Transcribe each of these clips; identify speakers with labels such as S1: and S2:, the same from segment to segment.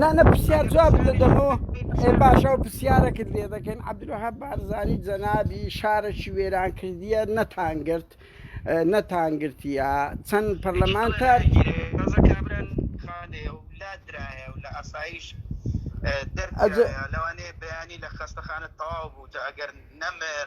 S1: نانە پرسیار جواب دەدەم و ئێ باش ئەو پرسیارەکت لێ دەکەین عبدروحە بارزانانی جەنابی شارەکی وێران کردیە نەتانگرت نەتانگرتیە چەند پەرلەمانتار لەوانەیە بەیانی لە
S2: خەستەخانە تەواو بوو ئەگەر نەمر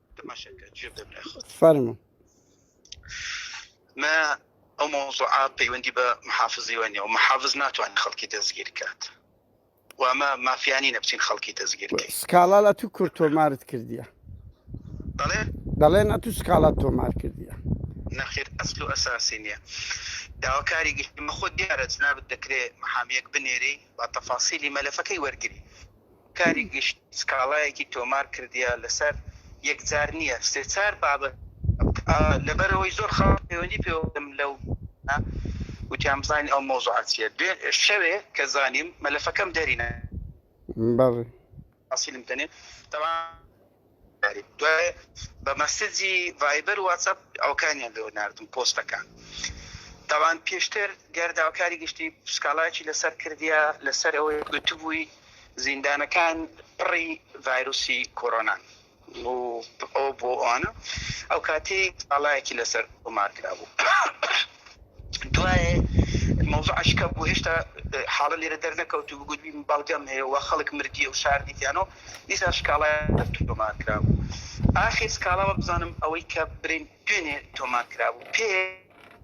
S1: تەماشاکە جوێ بدە برای خۆت فەرموو
S2: مە ئەو مەوزوعە پەیوەندی بە محافزیوە نیە و محافز ناتوانێت خەڵکی دەستگیر بکات و ئەمە مافیانی نەبچین خەڵکی دەستگیر بکەین سکاڵا لە تو کورد
S1: تۆمارت کردیە بەڵێ دەڵێن ئە تو سکاڵات تۆمار کردیە نەخیر ئەسل
S2: و ئەساسی نییە داواکاری گشتمە خۆ دیارە جنابت دەکرێت محامیەک بنێری و تەفاسیلی مەلەفەکەی وەرگری کاری گشت سکاڵایەکی تۆمار کردیە لەسەر یەک جار نیە سێ چار بابەت لەبەرئەوەی زۆر خەڵک پەیوەندی پێوە کردم لەو ە وتیان بزانین ئەو مەوزوعە چیە دوێ شەوێ کە زانیم مەلەفەکەم دەری نا. بەڵێ. حاسیلم تەنێ تەوان. دوای بە مەسجی ڤایبەر واتسەپ ئەوکانیان لۆ ناردم پۆستەکان تاوان پێشتر گەر داوکاری گشتی سکاڵایکی لەسەر کردیا لەسەر ئەوەی گوتبووی زیندانەکان پڕی ڤایرۆسی کۆرۆنان و ئەو بۆ ئەوانە ئەو کاتی سکاڵایەکی لەسەر تۆمار کرابوو. دوایێ مەوزوع ئەشکە بوو هێشتا حاڵە لێرە دەرنەکەوتوو بوو گوتبی بەڵگەم هەیە و خەڵک مردیە و شاردیتیانە و دیسان شکاڵا تۆمار کرابوو ئاخیر سکاڵا وەبزانم ئەوەی کە برین دوێنێ تۆمار کرابوو پێ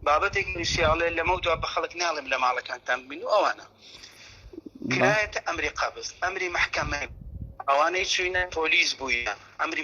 S2: بابەتێک نووسیاڵێ لەمە دوا بە خەڵک ناڵێم لە ماڵەکانتان بین و ئەوانە کرایەتە ئەمری قابز ئەمری محکەمە ئەوانەی چوینە پۆلیس بووە ئەمری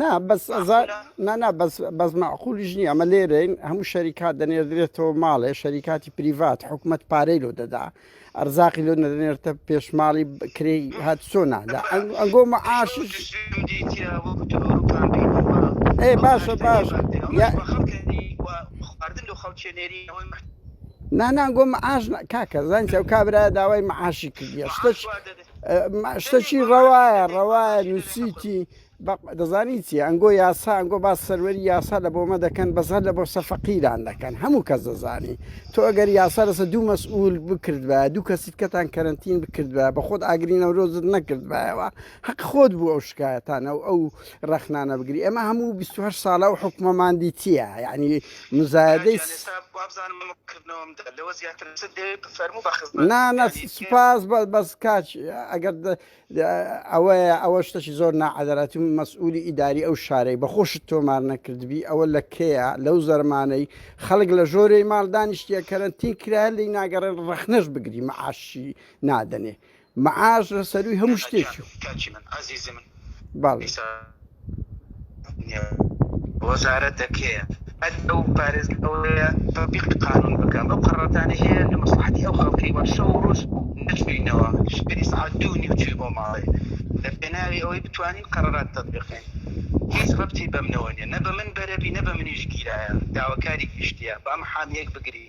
S2: نا
S1: بەس نانا بەس مەعقولیش نییە ئەمە لێرەین هەموو شەریکات دەنێردرێتەوە ماڵێ شەریکاتی پریڤات حکوومەت پارەی لۆ دەدا ئەرزاقی لۆ نەدەنێرتە پێشماڵی کرێ هات سۆ نادا ئەنگۆ معاش ئێ باشە باش خواردن لە خەڵکێنێری نانان گۆم ئاژ کاکە زانسی ئەو کابرا داوای معاشی کردیە شتش شتەکی ڕەوایە ڕەوایە نووسیتی دەزانی چی ئەنگۆ یاسا ئەنگۆ باس سەروەری یاسا لە بۆمە دەکەن بەزار لە بۆ سەفەقیران دەکەن هەموو کەس دەزانی تۆ ئەگەر یاسا لەسە دوو مەسئول بکرد بە دوو کەسیت کەتان کەرنتین بکرد بە بە خۆت ئاگری نەورۆزت نەکرد بایەوە حەق خۆت بوو ئەو شکایەتانە و ئەو ڕەخنانە بگری ئەمە هەموو 28 ساڵە و حکومەماندی چییە یعنی مزایەدەی نا نا سپاس بەس کاچ ئەگەر ئەوەیە ئەوە شتەی زۆر ناعادەراتی و مەسئولی ئیداری ئەو شارەی بە خۆشت تۆمار نەکردبی ئەوە لە کەیە لەو زەرمانەی خەڵک لە ژۆرەی ماڵدانیشتە کەرەنتین کرایە لی ناگەڕێن ڕەخنەش بگری مەعاشی نادەنێ معاش لە سەرووی هەموو شتێکی و. بەڵێ.
S2: وەزارەتە کێیە هەر ئەو پارێز ئەوەیە تەبیقی قانون بکەم ئەو قەرەتانەی هەیە لە مەسلحەتی ئەو خەڵکەی وا شەو و ڕۆژ نەچووینەوە شەوی سەعات دوو و نیو چووی بۆ ماڵێ لە پێناوی ئەوەی بتوانین قەرەرات تەبیقین هیچ ڕەبتی بەمنەوە نیە نە بە من بەرەبی نە بە منیش گیرایە داواکاری گشتیە با محامیەک بگری